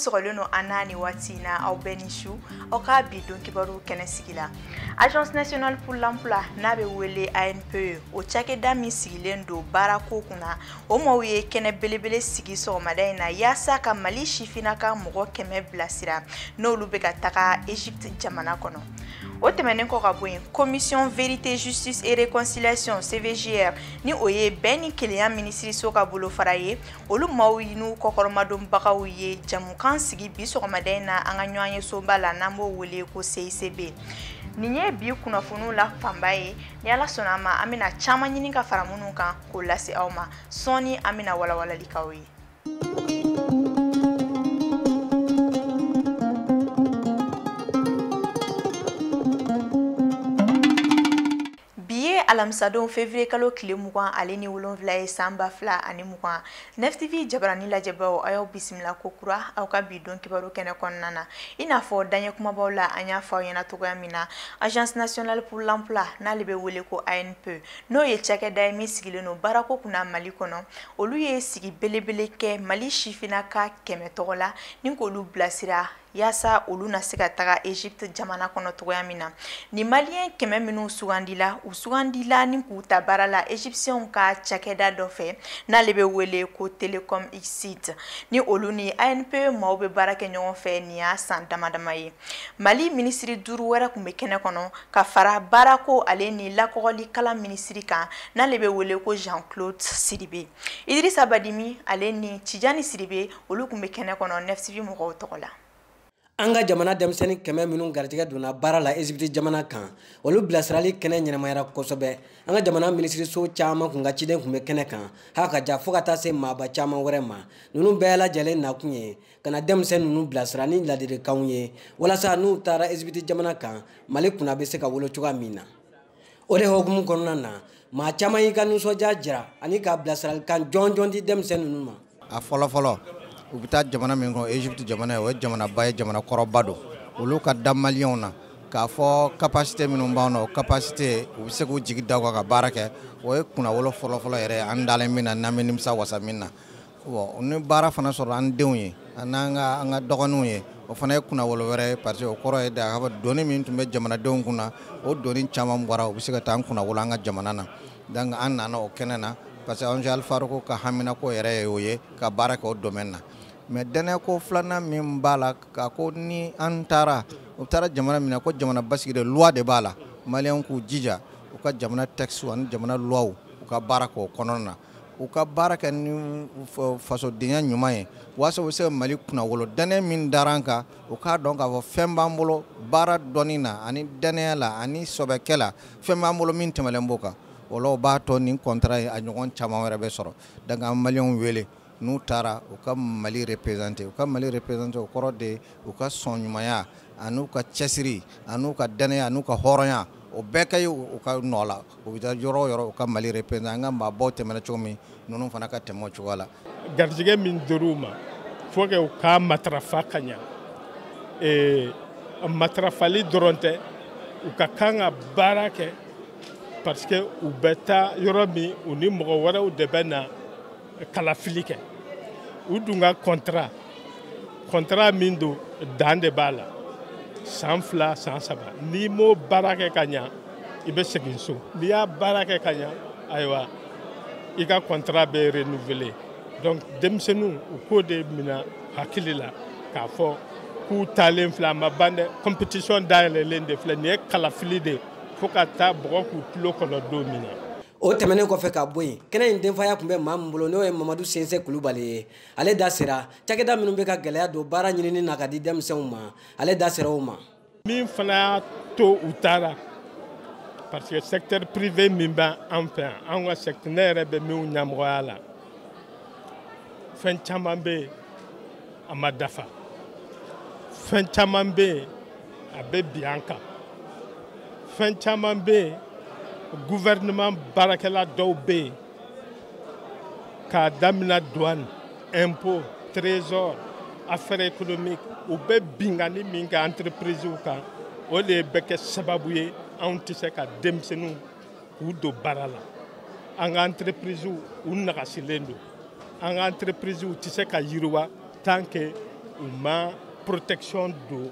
sɔgɔlen don an na nin waati in na aw bɛɛ ni su aw ka bi don kibaru kɛnɛ sigila agence nationale pour l'emploi n'a bɛ wele anpe o cakɛda min sigilen don baarako kunna o maaw ye kɛnɛ belebele sigi sɔgɔmada in na yaasa ka mali sifinnaka mɔgɔ kɛmɛ bilasira n'olu bɛ ka taga egypte jamana kɔnɔ o tɛmɛnen kɔ ka bɔ yen commission vérité justice et réconciliation cvjr ni o ye bɛn ni kelenya minisiriso ka bolofara ye olu maaw n'u kɔkɔrɔmadonbagaw ye jamukan sigi bi sɔgɔmada in na an ka ɲɔgɔnyesoba la n'an b'o wele ko cicb nin ye bi kunnafoniw la fanba ye ni ala sɔnna a ma an bɛna caman ɲini ka fara minnu kan k'o lase aw ma sɔɔni an bɛna walawalali k'aw ye bi ye alamisadon fevriye kalo tile mugan ale ni wolonfila ye san ba fila ani mugan nftv jabarani lajɛbaaw a y'aw bisimila ko kura aw ka bi don kibaru kɛnɛ kɔnɔna na i n'a fɔ daɲɛ kumabaw la an y'a fɔ aw ɲɛna cogoya min na agence nationale pour l'emploi n'ale bɛ wele ko anpe n'o ye cakɛda ye min sigilen don baarako kunna mali kɔnɔ olu ye sigi belebele kɛ mali sifinnaka kɛmɛ tɔgɔ la ni k'olu bilasira yaasa olu na se ka taga egypte jamana kɔnɔ cogoya min na nin maliyɛn kɛmɛ minnu sugandila u sugandila ni k'u ta baara la egyptiɛnw ka cakɛda dɔ fɛ n'ale bɛ wele ko telecom egypte ni olu ni anpe maaw bɛ baara kɛ ɲɔgɔn fɛ nin y'a san damadama ye mali minisiri duuru wɛrɛ kun bɛ kɛnɛ kɔnɔ ka fara baarako ale ni lakɔgɔli kalan minisiri kan n'ale bɛ wele ko jean claude sidibe idirisa badimi ale ni tijani sidibe olu kun bɛ kɛnɛ kɔnɔ nftv mɔgɔw tɔgɔ la an ka jamana denmisɛnnin kɛmɛ minnu garijɛgɛ donna baara la ezipiti jamana kan olu bilasirali kɛnɛ ɲɛnamayara kosɛbɛ an ka jamana minisiriso caman kun ka ciden kun bɛ kɛnɛ kan ha ka ja fɔɔ ka taa se maaba caman wɛrɛ ma ninnu bɛɛ lajɛlen nakun ye ka na denmisɛn ninnu bilasira ni ladilikanw ye walasa n'u taara ezipiti jamana kan mali kunna bɛ se ka wolo cogoya min na o de hokumu kɔnɔna na maa caman y'i ka nisɔndiya jira ani ka bilasiralikan jɔnjɔn di denmisɛn ninnu ma a fɔlɔfɔlɔ u bɛ taa jamana min kɔnɔ ezipiti jamana ye o ye jamanaba ye jamana kɔrɔba don olu ka da maliyɛnw na k'a fɔ kapasite minnu b'an na o kapasite u bɛ se k'u jigi da o kan ka baara kɛ o ye kunnawolo fɔlɔfɔlɔ yɛrɛ an dalen min na n'an bɛ nimisa wasa min na bon ni baara fana sɔrɔ an denw ye an'an ka an ka dɔgɔninw ye o fana ye kunnawolo wɛrɛ ye parce que o kɔrɔ ye de k'a fɔ doni min tun bɛ jamanadenw kun na o doni caman bɔra u bɛ se ka taa an kunnawolo an ka jamana na donc an nana o kɛnɛ na parce que ONG Alfarouk ka haminako yɛrɛ ye o ye ka baara kɛ o domaine na mais dɛnɛko filanan min b'a la ka ko ni an taara u taara jamana min na ko jamana basigi de loi de b'a la maliyɛnw k'u jija u ka jamana texte ani jamana loi u ka baara k'o kɔnɔna na u ka baara kɛ ni fasodenya ɲuman ye waasa u bɛ se ka mali kunnawolo dannaya min dara an kan u k'a dɔn k'a fɔ fɛn b'an bolo baara dɔnni na ani dannaya la ani sɔbɛkɛ la fɛn b'an bolo min tɛmɛlen b'o kan o la o b'a to nin contrat ye a ɲɔgɔn caman wɛrɛ bɛ sɔrɔ donc an ka maliyɛnw wele n'u taara u ka mali représenter u ka mali représenter o kɔrɔ de u ka sɔn ɲumanya ani n'u ka cɛsiri ani n'u ka dannaya n'u ka hɔrɔnya o bɛɛ ka ye u ka nɔ la u bɛ taa yɔrɔ o yɔrɔ u ka mali représenter an ka maabaw tɛmɛna cogo min ninnu fana ka tɛmɛ o cogoya la garijɛgɛ min dir'u ma faut que u k'a matarafa ka ɲa ee, matarafali dɔrɔn tɛ u ka kan ka baara kɛ parce que u bɛ taa yɔrɔ min u ni mɔgɔ wɛrɛw de bɛ na kalafili kɛ u dun ka contrat contrat min don dan de b'a la san fila san saba n'i m'o baara kɛ ka ɲa i bɛ segin so n'i y'a baara kɛ ka ɲa ayiwa i ka contrat bɛ renouveler donc denmisɛnninw u k'o de mina hakili la k'a fɔ k'u taalen filɛ a ma ban dɛ compétition dayɛlɛlen de filɛ nin ye kalafili de fo ka taa bɔgɔ k'u tulo kɔnɔ don min na o tɛmɛnen kɔfɛ ka bɔ yen kɛnɛ in denfaya tun bɛ maa min bolo n'o ye mamadu sinsi kulubali ye ale da sera cakɛda minnu bɛ ka gɛlɛya don baara ɲinini na ka di denmisɛnw ma ale da sera o ma min fana y'a to u taara parce que secteur privé min b'an fɛ yan an ka secteur ne yɛrɛ bɛ min ɲɛmɔgɔya la fɛn caman bɛ yen a ma dafa fɛn caman bɛ yen a bɛ bin an kan fɛn caman bɛ yen gouvernement baarakɛla dɔw bɛ yen k'a damina douane impôt trésor affaires économiques u bɛ binkanni min kɛ entreprisew kan o de bɛ kɛ sababu ye anw tɛ se ka denmisɛnninw k'u don baara la an ka entreprisew u nagasilen don an ka entreprisew tɛ se ka yiriwa tant que u ma protection don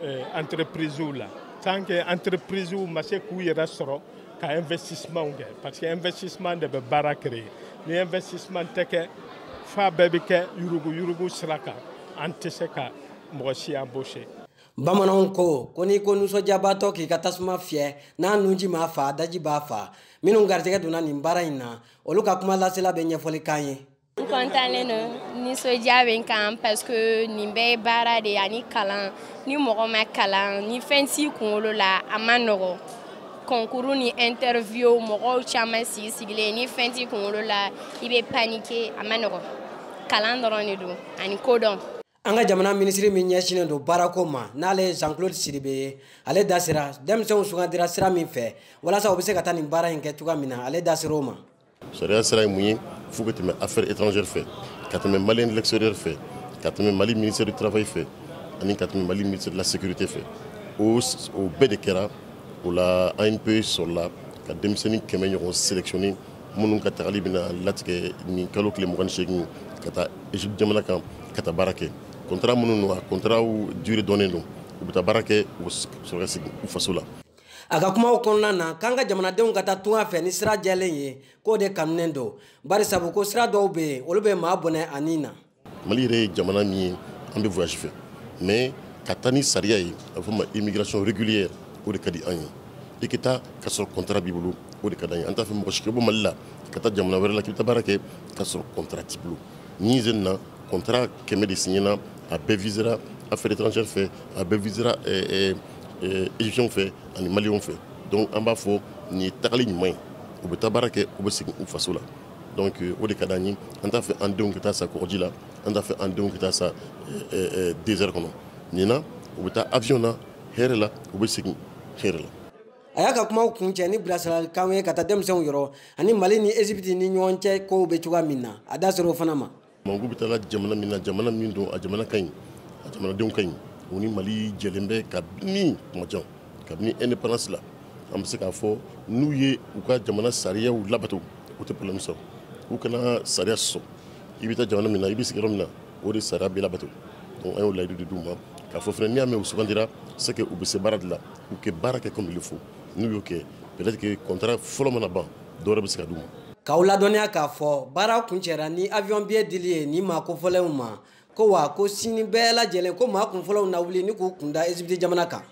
eh, entreprisew la tant que entreprisew ma se k'u yɛrɛ sɔrɔ ka investissement kɛ parce que investissement de bɛ baara créer ni investissement tɛ kɛ f'a bɛɛ bɛ kɛ yurugu yurugu sira kan an tɛ se ka mɔgɔ si embaucher bamananw ko ko n'i ko nisɔndiyabaatɔ k'i ka tasuma fiyɛ n'a nunji m'a fa daji b'a fa minnu garijɛgɛ donna nin baara in na olu ka kumalasela bɛ ɲɛfɔli k'an ye n kɔntannen don nisɔndiya bɛ n kan parce que nin bɛɛ ye baara de ye ani kalan ni mɔgɔ ma kalan ni fɛn t'i kunkolo la a ma nɔgɔ concours ni interview mɔgɔw caman sigi sigilen ni fɛn t'i kunkolo la i bɛ paniquer a ma nɔgɔ kalan dɔrɔn de don ani kodɔn an ka jamana minisiri min ɲɛsinnen don baarako ma n'ale ye jean claude sidibe ye ale da sera denmisɛnw sugandira sira min fɛ walasa u bɛ se ka taa nin baara in kɛ cogoya min na ale da ser'o ma sariya sira ye mun ye fo ka tɛmɛ affaires étrangères fɛ ka tɛmɛ maliens de l'extérieur fɛ ka tɛmɛ mali ministère du travail fɛ ani ka tɛmɛ mali ministère de la sécurité fɛ o bɛɛ de kɛra o la anpe sɔrɔla ka denmisɛnnin kɛmɛ ɲɔgɔn sélectionner minnu ka tagali bɛna latigɛ nin kalo tile mugan ni seegin ka taa egypte jamana kan ka taa baara kɛ contrat minnu don a contratw durée dɔnnen don u bɛ taa baara kɛ u sɔrɔ ka segin u faso la a ka kumaw kɔnɔna na k'an ka jamanadenw ka taa tunga fɛ ni sira jɛlen ye k'o de kanunen don bari sabu ko sira dɔw bɛ yen olu bɛ maa bɔnɛ a ni na mali yɛrɛ ye jamana min ye an bɛ voyage fɛ mais ka taa ni sariya ye a bɛ fɔ o ma immigration régulière o de ka di an ye i ka taa ka sɔrɔ contrat b'i bolo o de ka d'an ye an t'a fɛ mɔgɔ si ka bɔ mali la ka taa jamana wɛrɛ la k'i bɛ taa baara kɛ ka sɔrɔ contrat t'i bolo nin sen na contrat kɛmɛ de signena a bɛɛ visera affaires étrangères fɛ a bɛɛ visera eh, eh, égyptien fɛ ani maliyɛnw fɛ donc an b'a fɔ nin ye tagali ɲuman ye u bɛ taa baara kɛ u bɛ segin u faso la donc euh, o de ka d'an ye an t'a fɛ an denw ka taa sa kɔgɔji la an t'a fɛ an denw ka taa sa désert kɔnɔ nin na u bɛ taa avion na hɛrɛ la u bɛ segin hɛrɛ la a y'a ka kumaw kuncɛ ni bilasiralikanw ye ka taa denmisɛnw yɔrɔ ani mali ni ezipiti ni ɲɔgɔn cɛ kow bɛ cogoya min na a da sera o fana ma Manku bɛ taa jamana min na jamana min don a jamana ka ɲi a jamanadenw ka ɲi u ni Mali jɛlen bɛ kabini tuma jan kabini indépendance la an bɛ se k'a fɔ n'u ye u ka jamana sariyaw labato u tɛ problème sɔrɔ u kana sariya sɔsɔ i bɛ taa jamana min na i bɛ sigi yɔrɔ min na o de sariya bɛ labato donc an y'o layidu de d'u ma k'a fɔ fana n'i y'a mɛn u sugandira c'est que u bɛ se baara de la u ka baara kɛ comme il faut n'u y'o kɛ peut-être que contrat fɔlɔ mana ban dɔwɛrɛ bɛ se ka d'u ma. k'aw ladɔnniya k'a fɔ baara kuncɛra ni avion billet dili ye nin maa kofɔlenw ma ko wa ko sini bɛɛ lajɛlen ko maa kunfɔlɔw na wuli ni k'u kunda Egypte jamana kan.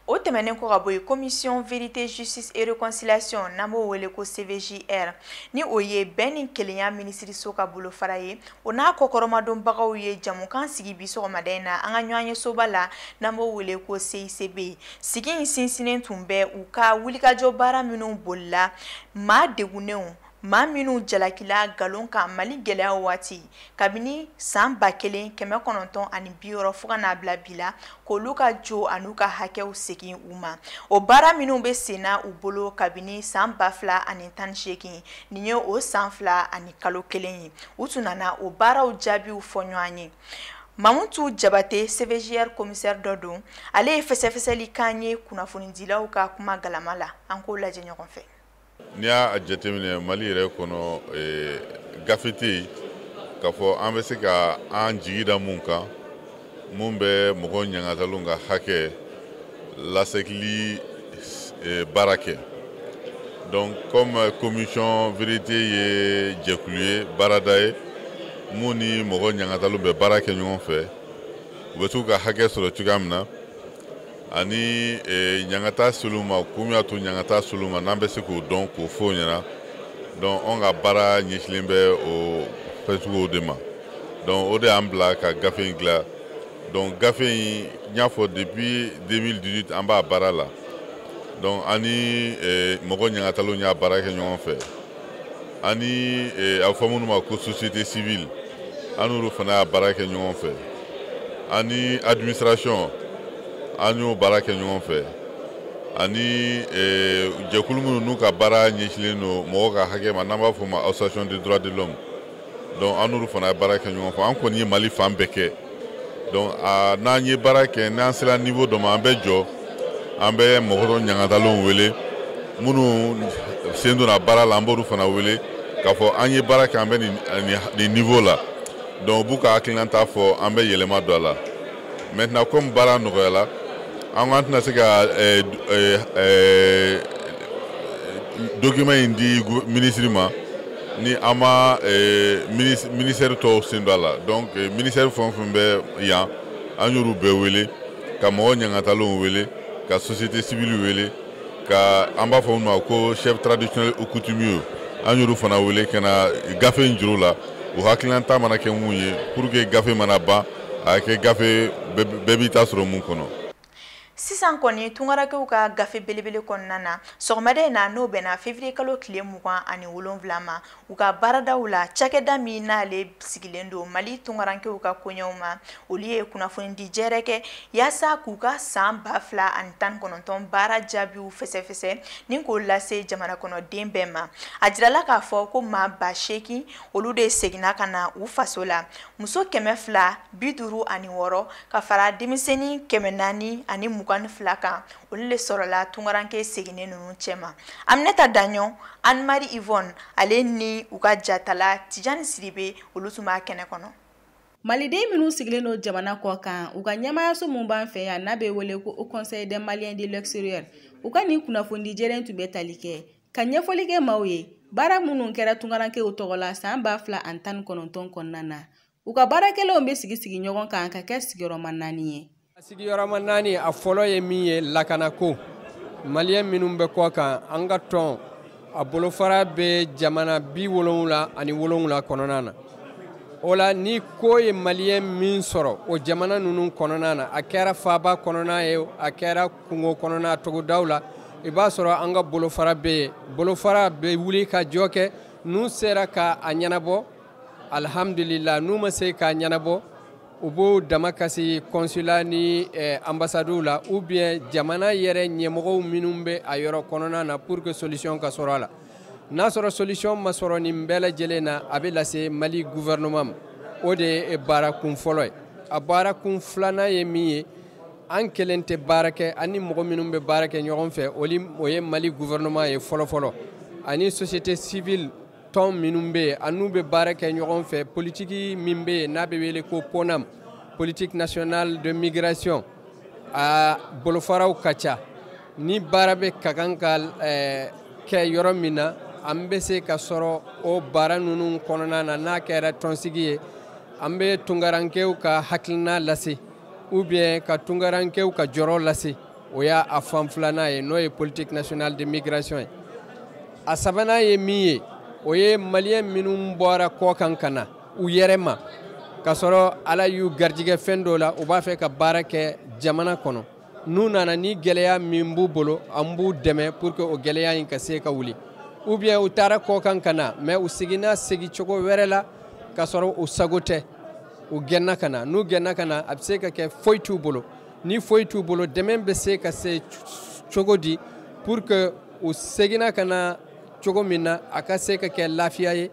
o tɛmɛnen kɔ ka bɔ yen commission vérité justice et réconciliation n'an b'o wele ko cvjr ni o ye bɛn ni kelenya minisiriso ka bolofara ye o n'a kɔkɔrɔmadonbagaw ye jamukan sigi bi sɔgɔmada in na an ka ɲɔgɔnye soba la n'an b'o wele ko CICB sigi in sinsinnen tun bɛ u ka wulikajɔ baara minnu bolila maa degunnenw maa minnu jalakila nkalon kan mali gɛlɛya waati kabini san ba kelen kɛmɛ kɔnɔntɔn ani bi wɔɔrɔ fo ka n'a bila bi la k'olu ka jo an'u ka hakɛw segin u ma o baara minnu bɛ senna u bolo kabini san ba fila ani tan ni seegin nin ye o san fila ani kalo kelen ye u tun nana o baaraw jaabiw fɔ ɲɔgɔn ye mamutu jabate CVJR komisɛri dɔ don ale ye fɛsɛfɛsɛli k'an ye kunnafonidilaw ka kuma galama la an k'o lajɛ ɲɔgɔn fɛ n'i y'a jateminɛ mali yɛrɛ kɔnɔ eh, gafe tɛ yen k'a fɔ an bɛ se ka an jigi da mun kan mun bɛ mɔgɔ ɲangatalenw ka hakɛ lasegili eh, baara kɛ donc comme eh, commission vérité ye jɛkulu ye baarada ye mun ni mɔgɔ ɲangatalenw bɛ baara kɛ ɲɔgɔn fɛ u bɛ se k'u ka hakɛ sɔrɔ cogoya min na ani eh, ɲangata sel'u ma kun min y'a to ɲangata sel'u ma n'an bɛ se k'o dɔn k'o fɔ o ɲɛna donc anw ka baara ɲɛsilen bɛ o fɛn suguw de ma donc o de y'an bila ka gafe in dilan donc gafe in n y'a fɔ depuis 2018 an b'a baara la donc an ni eh, mɔgɔ ɲangatalenw y'a baara kɛ ɲɔgɔn fɛ ani eh, a bɛ fɔ minnu ma ko société civile an n'olu fana y'a baara kɛ ɲɔgɔn fɛ ani administration an y'o baara kɛ ɲɔgɔn fɛ ani eh, jɛkulu minnu n'u ka baara ɲɛsinlen don mɔgɔw ka hakɛ ma n'an b'a fɔ o ma association des droits de l'homme donc an n'olu fana ye baara kɛ ɲɔgɔn fɛ an kɔni ye mali fan bɛɛ kɛ donc a n'an ye baara kɛ n'an sera niveau dɔ ma an bɛ jɔ an bɛ mɔgɔ dɔ ɲangatalenw wele minnu sen donna baara la an b'olu fana wele k'a fɔ an ye baara kɛ an bɛ nin niveau la donc u b'u ka hakilinata fɔ an bɛ yɛlɛma don a la maintenant comme baara nɔgɔyala an ko an tɛna se ka eh, eh, eh, document in di ministre ma ni an ma eh, ministère tɔw sen don a la donc eh, ministère fɛn o fɛn bɛ yan an y'olu bɛɛ wele ka mɔgɔ ɲangatalenw wele ka société civile wele ka an b'a fɔ minnu ma ko chef traditionnel ou coutumier an y'olu fana wele ka na gafe in jir'u la u hakilinata mana kɛ mun ye pour que gafe mana ban a ka kɛ gafe bɛɛ b'i ta sɔrɔ min kɔnɔ sisan kɔni tungarankew ka gafe belebele kɔnɔna na sɔgɔmada in na n'o bɛnna fevriye kalo tile mugan ani wolonwula ma u ka baaradaw la cakɛda min n'ale sigilen don mali tungarankew ka koɲɛw ma olu ye kunnafonidi jɛrɛ kɛ yaasa k'u ka saan ba fila ani tan kɔnɔntɔn baara jaabiw fɛsɛfɛsɛ ni k'o lase jamana kɔnɔden bɛɛ ma a jirala k'a fɔ ko maa ba seegin olu de seginna ka na u faso la muso kɛmɛ fila bi duuru ani wɔɔrɔ ka fara denmisɛnni kɛmɛ naani ani mugan ni fila kan olu le sɔrɔla tungaranke seginnen ninnu cɛma aminata daɲɔ anmari ivɔn ale ni u ka jatala tijani siribe olu tun b'a kɛnɛ kɔnɔ maliden minnu sigilen don jamana kɔ kan u ka ɲɛmaayaso min b'an fɛ yan n'a bɛ wele ko haut conseil des maliens de l'extérieur u ka nin kunnafonidi jɛrɛ in tun bɛ tali kɛ ka ɲɛfɔli kɛ maaw ye baara minnu kɛra tungarankew tɔgɔ la saan ba fila ani tan ni kɔnɔntɔn kɔnɔna na u ka baara kɛlenw bɛ sigisigi ɲɔgɔn kan ka kɛ sigiyɔrɔma naani ye sigiyɔrɔma naani a fɔlɔ ye min ye lakanako maliyɛn minnu bɛ kɔ kan an ka tɔn a bolofara bɛ jamana bi wolonwula ani wolonwula kɔnɔna na o la ni ko ye maliyɛn min sɔrɔ o jamana ninnu kɔnɔna na a kɛra faaba kɔnɔna ye a kɛra kungo kɔnɔna togodaw la i b'a sɔrɔ an ka bolofara bɛ yen bolofara bɛ wulikajɔ kɛ n'u sera ka a ɲɛnabɔ alhamdulila n'u ma se k'a ɲɛnabɔ u b'o damakasi kɔnsula ni eh, ambasadiw la ou bien jamana yɛrɛ ɲɛmɔgɔw minnu bɛ a yɔrɔ kɔnɔna na pour que solution ka sɔrɔ a la n'a sɔrɔ solution ma sɔrɔ nin bɛɛ lajɛlen na a bɛ lase mali gouvernement ma o de ye baara kun fɔlɔ ye a baara kun filanan ye min ye an kelen tɛ baara kɛ an ni mɔgɔ minnu bɛ baara kɛ ɲɔgɔn fɛ o ye mali gouvernement ye fɔlɔfɔlɔ ani société civile tɔn minnu bɛ yen an n'u bɛ baara kɛ ɲɔgɔn fɛ politiki min bɛ yen n'a bɛ wele ko ponam politique nationale de migration a bolofaraw ka ca ni baara bɛ ka kan ka eh, kɛ yɔrɔ min na an bɛ se ka sɔrɔ o baara ninnu kɔnɔna na n'a kɛra tɔnsigi ye an bɛ tungarankew ka hakilina lase ou bien ka tungarankew ka jɔrɔ lase o y'a fan filanan ye n'o ye politique nationale de migration ye a sabanan ye min ye o ye maliyɛn minnu bɔra kɔ kan ka na u yɛrɛ ma k'a sɔrɔ ala y'u garijigɛ fɛn dɔ la u b'a fɛ ka baara kɛ jamana kɔnɔ n'u nana ni gɛlɛya min b'u bolo an b'u dɛmɛ pour que o gɛlɛya in ka se ka wuli ou bien u taara kɔ kan ka na mais u seginna segi cogo wɛrɛ la k'a sɔrɔ u sago tɛ u gɛnna ka na n'u gɛnna ka na a bɛ se ka kɛ foyi t'u bolo ni foyi t'u bolo dɛmɛ bɛ se ka se cogo di pour que u seginna ka na cogo min na a ka se ka kɛ lafiya ye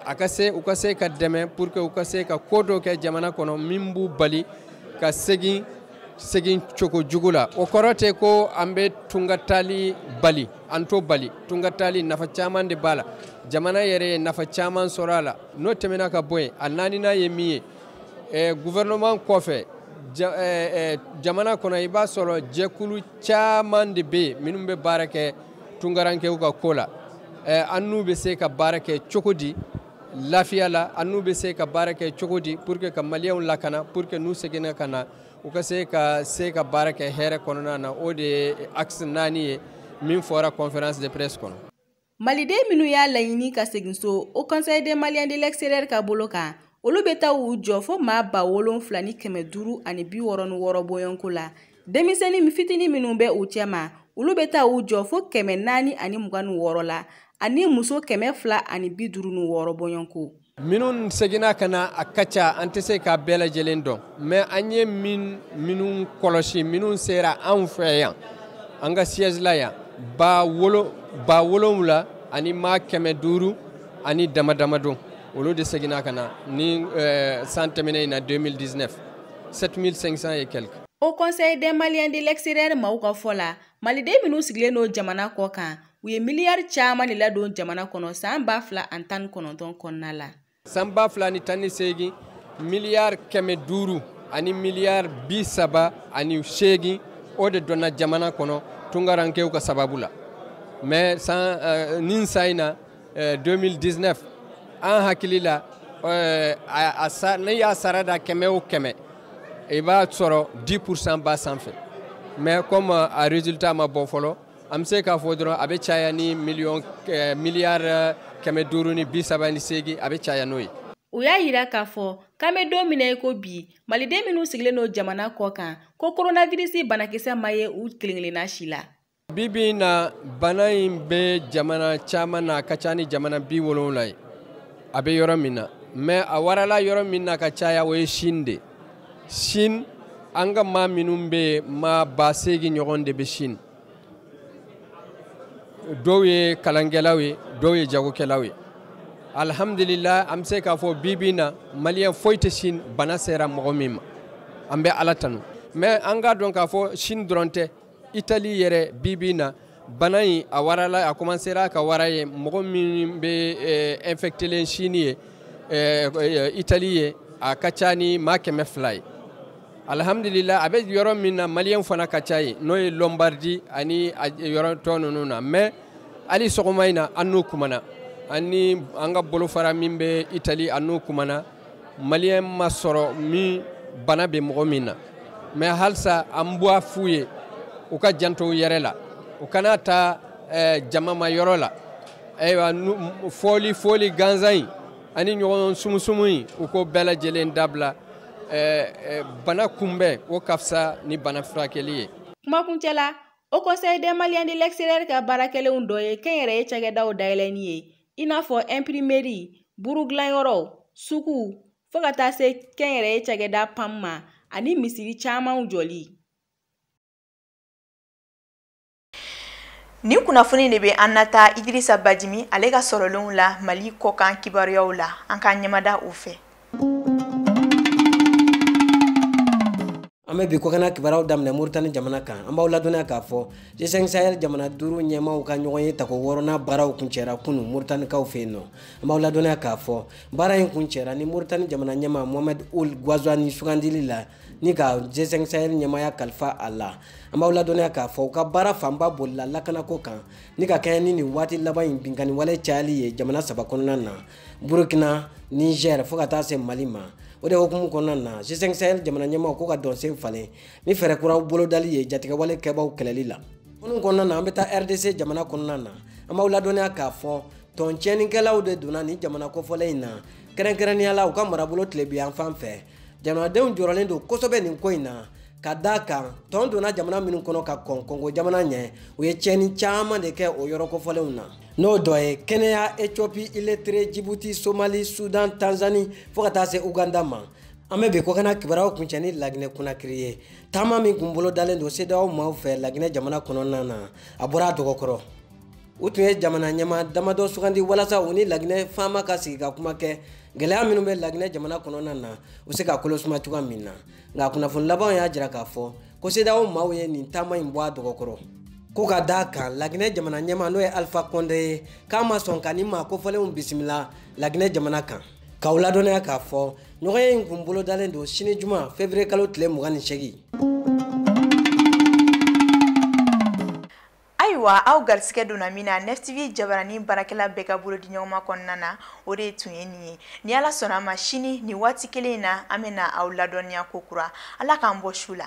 a ka se u ka se ka dɛmɛ pour que u ka se ka ko dɔ kɛ jamana kɔnɔ min b'u bali ka segin segin cogo jugu la o kɔrɔ tɛ ko an bɛ tunga taali bali an t'o bali tunga taali nafa caman de b'a la jamana yɛrɛ ye nafa caman sɔrɔ a la n'o tɛmɛna ka bɔ yen a naaninan ye min ye eh, gouvernement kɔfɛ ja, eh, eh, jamana kɔnɔ i b'a sɔrɔ jɛkulu caman de bɛ yen minnu bɛ baara kɛ tungarankew ka ko la eh, an n'u bɛ se ka baara kɛ cogo di lafiya la an n'u bɛ se ka baara kɛ cogo di pour que ka maliyɛnw lakana pour que n'u seginna ka na u ka se ka se ka baara kɛ hɛrɛ kɔnɔna na o de ye axe naani ye min fɔra conférence de presse kɔnɔ Maliden minnu y'a laɲini ka segin so Haut Conseil des Maliens de l'extérieur ka bolo kan olu bɛ taa u jɔ fo maa ba wolonfila ni kɛmɛ duuru ani bi wɔɔrɔ ni wɔɔrɔ bɔɲɔgɔnko la denmisɛnnin fitini minnu bɛ u cɛma olu bɛ taa u jɔ fo kɛmɛ naani ani mugan ni wɔɔrɔ la ani muso kɛmɛ fila ani bi duuru ni wɔɔrɔ bɔɲɔgɔnko minnu seginna ka na a ka ca an tɛ se k'a bɛɛ lajɛlen dɔn mais an ye min minnu kɔlɔsi minnu sera anw fɛ yan an ka siège la yan ba wolo ba wolonwula ani maa kɛmɛ duuru ani dama dama don olu de seginna ka na ni eh, san tɛmɛnen in na 2019 7500 et quelques Haut Conseil des Maliens de l'extérieur maaw ka fɔ la maliden minnu sigilen don jamana kɔ kan u ye miliyari caman de ladon jamana kɔnɔ san ba fila ani tan ni kɔnɔntɔn kɔnɔna la san ba fila ni tan ni seegin miliyari kɛmɛ duuru ani miliyari bi saba ani seegin o de donna jamana kɔnɔ tungarankew ka sababu la mais san uh, nin san in na uh, eh, 2019 an hakili la uh, a, a, n'i y'a sarada kɛmɛ o kɛmɛ i b'a sɔrɔ 10 pourcent b'a sanfɛ mais comme a résultat ma bɔ fɔlɔ an bɛ se k'a fɔ dɔrɔn a bɛ caya ni miliyɔn eh, miliyari eh, kɛmɛ duuru ni bi saba ni seegin a bɛ caya n'o ye u y'a yira k'a fɔ k'an bɛ don min na i ko bi maliden minnu sigilen don jamana kɔ kan ko koronavirisi banakisɛ ma ye u kelen-kelenna si la bi bi in na bana in bɛ jamana caman na a ka ca ni jamana bi wolonwula ye a bɛ yɔrɔ min na mais a warala yɔrɔ min na ka caya o ye Chine de Chine an ka maa minnu bɛ yen maa ba seegin ɲɔgɔn de bɛ Chine dɔw ye kalankɛlaw ye dɔw ye jagokɛlaw ye alihamudulila an bɛ se k'a fɔ bi bi na maliyɛn foyi tɛ Chine bana sera mɔgɔ min ma an bɛ Ala tanu mais an k'a dɔn k'a fɔ Chine dɔrɔn tɛ itali yɛrɛ bibi na bana in a warala a kɔmansera ka wara ye mɔgɔ min bɛ eh, infectelen sini ye eh, eh, itali ye a ka ca ni maa kɛmɛ fila ye alhamdulila a bɛ yɔrɔ min na maliyɛn fana ka ca ye n'o ye lombardi ani yɔrɔ tɔ ninnu na mais hali sɔgɔma in na an n'u kumana an ni an ka bolofara min bɛ itali an n'u kumana maliyɛn ma sɔrɔ min bana bɛ mɔgɔ min na mais halisa an b'a f'u ye u ka janto u yɛrɛ la u kana taa eh, jamama yɔrɔ la ayiwa fɔli fɔli gansan in ani ɲɔgɔn sumusumu in u ko bɛɛ lajɛlen dabila eh, eh, bana kunbɛn o ka fisa ni bana furakɛli ye kumakuncɛ la haut conseil des maliens de l'extérieur ka baarakɛlenw dɔ ye kɛnyɛrɛye cakɛdaw dayɛlɛni ye i n'a fɔ ɛnpirimeri burugilanyɔrɔw suguw fo ka taa se kɛnyɛrɛye cakɛda pam ma ani misiri camanw jɔli nin kunnafoni de bɛ an nataa idirisa bajimi ale ka sɔrɔlenw la mali kɔkan kibaruyaw la an k'an ɲɛmada o fɛ an bɛ bi kɔkana kibaruyaw daminɛ moritani jamana kan an b'aw ladɔnniya k'a fɔ g5 sahel jamana duuru ɲɛmaaw ka ɲɔgɔnye tako wɔɔrɔnan baaraw kuncɛra kunu moritanikaw fɛ yen nɔ an b'aw ladɔnniya k'a fɔ baara in kuncɛra ni moritani jamana ɲɛmaa mohamɛd ul gwazwani sugandili la ni ka g5 sahel ɲɛmaaya kalifa a la an b'aw ladɔnniya k'a fɔ u ka baara fanba bolila lakanako kan ni ka kɛɲɛ ni nin waati laban in binkanni wale cayali ye jamana saba kɔnɔna na burukina niger fo ka taa se mali ma o de hukumu kɔnɔna na g5 sahel jamana ɲɛmaaw ko ka dɔnsen falen ni fɛɛrɛ kuraw bolodali ye jatigɛwale kɛbaw kɛlɛli la ninnu kɔnɔna na an bɛ taa rdc jamana kɔnɔna na an b'aw ladɔnniya k'a fɔ tɔn tiɲɛnikɛlaw de donna nin jamana kofɔlen in na kɛrɛnkɛrɛnnenya la u ka marabolo tilebinyanfan fɛ jamanadenw jɔrɔlen don kosɛbɛ nin ko in na ka d'a kan tɔn donna jamana minnu kɔnɔ ka kɔn kongo jamana ɲɛ u ye tiɲɛni caman de kɛ o yɔrɔ kofɔlenw na n'o dɔ ye kenya ethiopie eritre jibuti somali sudan tanzani fo ka taa se uganda ma an bɛ bi kɔkana kibaruyaw kuncɛ ni laginɛ konakiri ye taama min kun bolodalen don cedeao maaw fɛ laginɛ jamana kɔnɔna na a bɔra a dɔgɔkɔrɔ u tun ye jamana ɲɛmaa damadɔ sugandi walasa u ni laginɛ faama ka sigi ka kuma kɛ gɛlɛya minnu bɛ laginɛ jamana kɔnɔna na u se ka kolo suma cogoya min na nka kunnafoni labanw y'a jira k'a fɔ ko cedeao maaw ye nin taama in bɔ a dɔgɔkɔrɔ ko ka d'a kan laginɛ jamana ɲɛmaa n'o ye alifa kɔnde ye k'a ma sɔn ka nin maa kofɔlenw bisimila laginɛ jamana kan k'aw ladɔnniya k'a fɔ ɲɔgɔnye in kun bolodalen don sini juma fevriye kalo tile mugan ni segin ayiwa aw garisigɛ donna min na neftv jabaranin baarakɛla bɛɛ ka bolo di ɲɔgɔnma kɔnɔna na o de tun ye nin ye ni ala sɔnna a ma sini ni waati kelen in na an bɛna aw ladɔnniya ko kura ala k'an bɔ su la